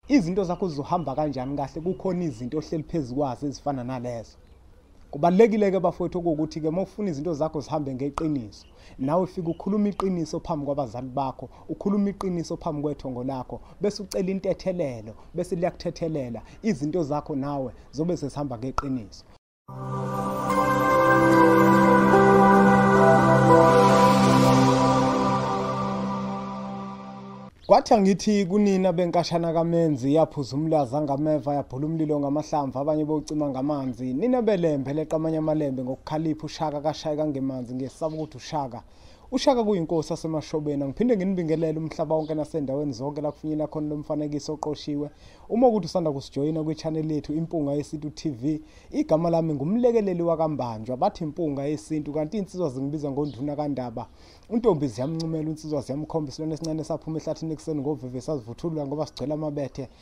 Izinto zakho zizohamba kanjani kahle kukhona izinto ohleli phezu kwazo ezifana nalezo. Kubalekile ke bafowethu ukuthi ke mawufuna izinto zakho zihambe ngeqiniso. Nawe ufika ukhuluma iqiniso phambi kwabazali bakho, ukhuluma iqiniso phambi kwethongo lakho, bese ucela intethelelo, bese liyakuthethelela izinto zakho nawe zobe sesihamba ngeqiniso. Kwathi angithi kunina benkashana kaMenzi yaphuza umlaza ngameva yabhula umlilo ngamahlamvu abanye bocima ngamanzi nina belembe leqamanya amalembe ngokukhalipha ushaka kashayeka ngemanzi ngesaba ukuthi ushaka ushaka kuyinkosi asemashobeni angiphinde nginibingelele umhlaba wonke nasendaweni zonke la kufinyela khona lo mfanekiso oqoshiwe uma ukuthi usanda kusijoyina kwichaneli yethu impunga yesintu tv igama lami ngumlekeleli wakambanjwa bathi impunga yesintu kanti iy'nsizwa zingibiza ngonduna kandaba untombi ziyamncumela unsizwa ziyamkhomba isilwane esincane saphuma ehlathini ekuseni ngoveve sazivuthulula ngoba sigcwele amabethe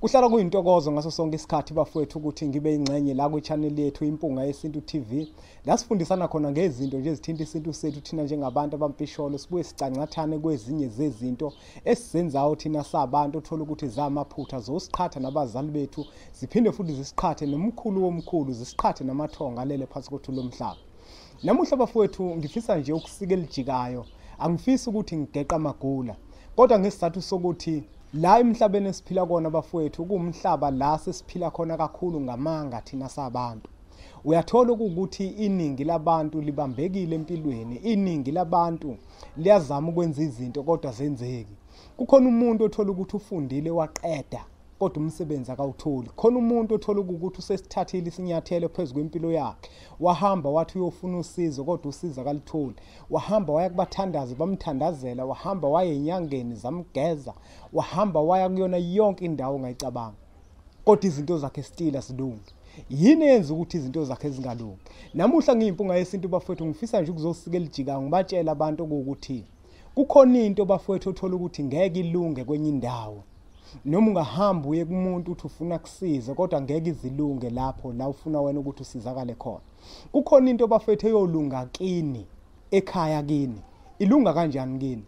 Kuhlala kuyintokozo ngaso sonke isikhathi bafowethu ukuthi ngibe ingxenye la kwi-channel yethu Impunga Yesintu TV la sifundisana khona ngezinto nje ezithinta isintu sethu thina njengabantu abampisholo sibuye sicancathane kwezinye zezinto esizenzayo thina sabantu othola ukuthi zamaphutha zosiqhatha nabazali bethu ziphinde futhi zisiqhathe nomkhulu womkhulu zisiqhathe namathonga alele phansi kothu lomhlaba namuhla bafowethu ngifisa nje ukusika elijikayo angifisi ukuthi ngigeqa amagula kodwa ngesizathu sokuthi La emhlabeni esiphila kona bafowethu kuwumhlaba la sesiphila khona kakhulu ngamanga thina sabantu. Uyathola ukuthi iningi labantu libambekile empilweni, iningi labantu liyazama ukwenza izinto kodwa zenzeki. Kukhona umuntu othola ukuthi ufundile waqeda kodwa umsebenzi akawutholi. Khona umuntu othola ukuthi usesithathile isinyathelo phezu kwempilo yakhe wahamba wathi uyofuna usizo kodwa usizo akalutholi wahamba waya kubathandazi bamthandazela wahamba waye enyangeni zamgeza wahamba waya kuyona yonke indawo ongayicabanga kodwa izinto zakhe still asilungi yini eyenza ukuthi izinto zakhe zingalungi namuhla ngiyimpunga yesintu bafowethu ngifisa nje ukuzosikela ijika ngibatshela abantu ukuthi kukhona into bafowethu othola ukuthi ngeke ilunge kwenye indawo noma ungahamba uye kumuntu uthi ufuna kusize kodwa ngeke izilunge lapho la ufuna wena ukuthi usizakale khona kukhona into bafethu eyolunga kini ekhaya kini ilunga kanjani kini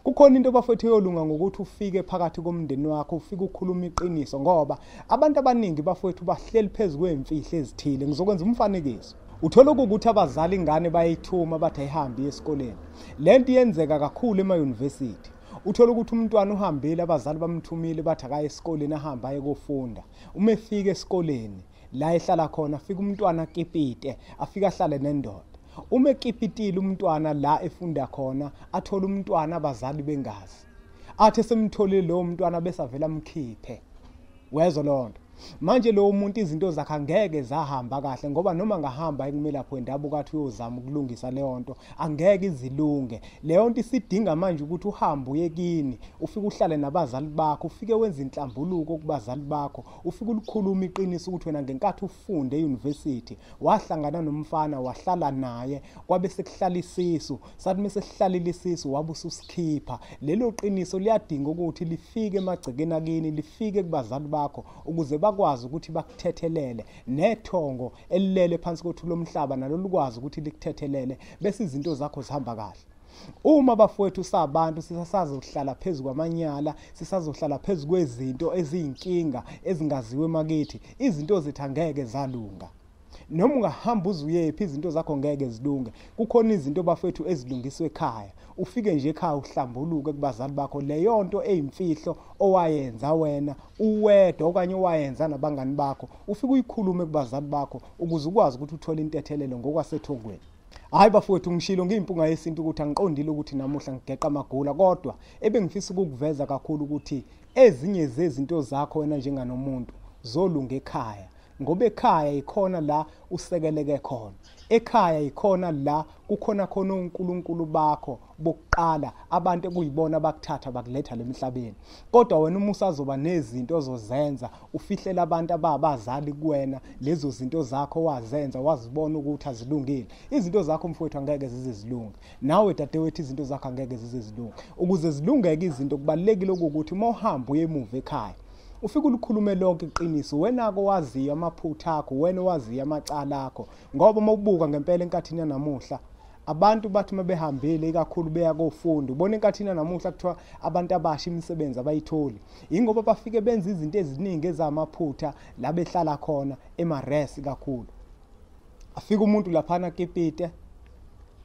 kukhona into bafethu eyolunga ngokuthi ufike phakathi komndeni wakho ufike ukhuluma iqiniso ngoba abantu abaningi bafethu bahleli phezu kwemfihlo ezithile ngizokwenza umfanekiso Uthola ukuthi abazali ingane bayithuma bathi ayihambi esikoleni. Le nto iyenzeka kakhulu emayunivesithi. Uthola ukuthi umntwana uhambile abazali bamthumile bathi akaye esikoleni ahambe aye kofunda. Uma efika esikoleni la ehlala khona afika umntwana akipite afike ahlale nendoda. Uma ekipitile umntwana la efunda khona athola umntwana abazali bengazi. Athe semtholile lowo mntwana bese avela amkhiphe. wezwa loo nto manje lowo muntu izinto zakhe angeke zahamba kahle ngoba noma ngahamba ekumelaphi wendabuko athi uyozama ukulungisa leyo nto angeke izilunge leyo nto isidinga manje ukuthi uhambe uye kini ufike uhlale nabazali bakho ufike wenze inhlambuluko kubazali bakho ufike ulikhuluma iqiniso ukuthi wena ngenkathi ufunde eyunivesithi wahlangana nomfana wahlala naye kwabe sekuhlala isisu sathi mese sihlalile isisu wabe ususikhipha lelo qiniso liyadinga ukuthi lifike emagcekeni akini lifike kubazali bakho ukuze bakwazi ukuthi bakuthethelele nethongo elilele phansi kothu lomhlaba nalo likwazi ukuthi likuthethelele bese izinto zakho zihamba kahle uma bafowethu sabantu sisasazohlala phezu kwamanyala sisazohlala phezu kwezinto eziyinkinga ezingaziwe makithi izinto zethu angeke zalunga noma ungahamba uze uyephi izinto zakho ngeke zilunge kukhona izinto bafethu ezilungiswe ekhaya ufike nje ekhaya uhlambuluke kubazali bakho leyo nto eyimfihlo owayenza wena uwedwa okanye owayenza nabangani bakho ufike uyikhulume kubazali bakho ukuze ukwazi ukuthi uthole intethelelo ngokwasethongweni hhayi bafowethu ngishilo ngiyimpunga yesintu ukuthi angiqondile ukuthi namuhla ngigeqa amagula kodwa ebengifisa ukukuveza kakhulu ukuthi ezinye zezinto zakho wena njenganomuntu zolunga ekhaya ngoba ekhaya yikhona la usekeleke khona ekhaya yikhona la kukhona khona uNkulunkulu bakho bokuqala abantu ekuyibona bakuthatha bakuletha lemhlabeni kodwa wena uma usazoba nezinto ozozenza ufihlela abantu ababazali kuwena lezo zinto zakho wazenza wazibona ukuthi azilungile izinto zakho mfowethu angeke zize zilunge nawe dadewethu izinto zakho angeke zize zilunge ukuze zilungeke izinto kubalekile ukuthi uma uhamba uye emuva ekhaya ufike ulikhulume lonke iqiniso uwenako owaziyo amaphutha akho uwena owaziyo amacala akho ngoba uma ubuka ngempela enkathini yanamuhla abantu bathi uma behambile ikakhulu beya kofunda ubona enkathini yanamuhla kuthiwa abantu abasha imisebenzi abayitholi yingoba bafike benza izinto eziningi ezamaphutha la behlala khona emares kakhulu afike umuntu laphana kipite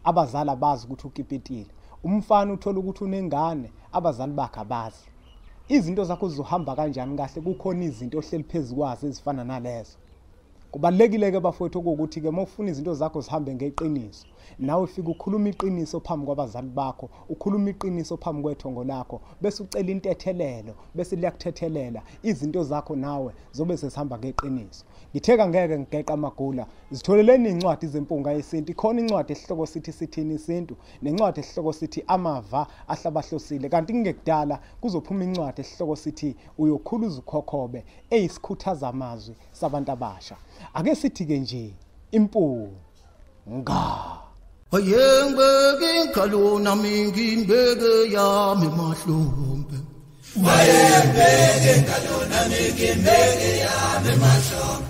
abazali abazi ukuthi ukipitile umfana uthola ukuthi unengane abazali bakhe abazi izinto zakho zizohamba kanjani kahle kukhona izinto ohleli phezu kwazo ezifana nalezo kubalulekile-ke bafowethu okuwukuthi-ke uma ufuna izinto zakho zihambe ngeqiniso nawe ufike ukhuluma iqiniso phambi kwabazali bakho ukhuluma iqiniso phambi kwethongo lakho bese ucela intethelelo bese liyakuthethelela izinto zakho nawe zobe sesihamba ngeqiniso ngitheka ngeke ngigeqa amagula zitholeleni iy'ncwadi zempunga yesintu ikhona incwadi esihloko sithi sithini isintu nencwadi esihloko sithi amava ahlabahlosile kanti kungekudala kuzophuma incwadi esihloko sithi uyokhula uzukhokhobe eyisikhuthaza amazwi sabantu abasha ake sithi-ke nje impu nga ayengibeke inkhalona mingimbeke yami mahlombe wayembeke ngalona mingimbeke yami mahlombe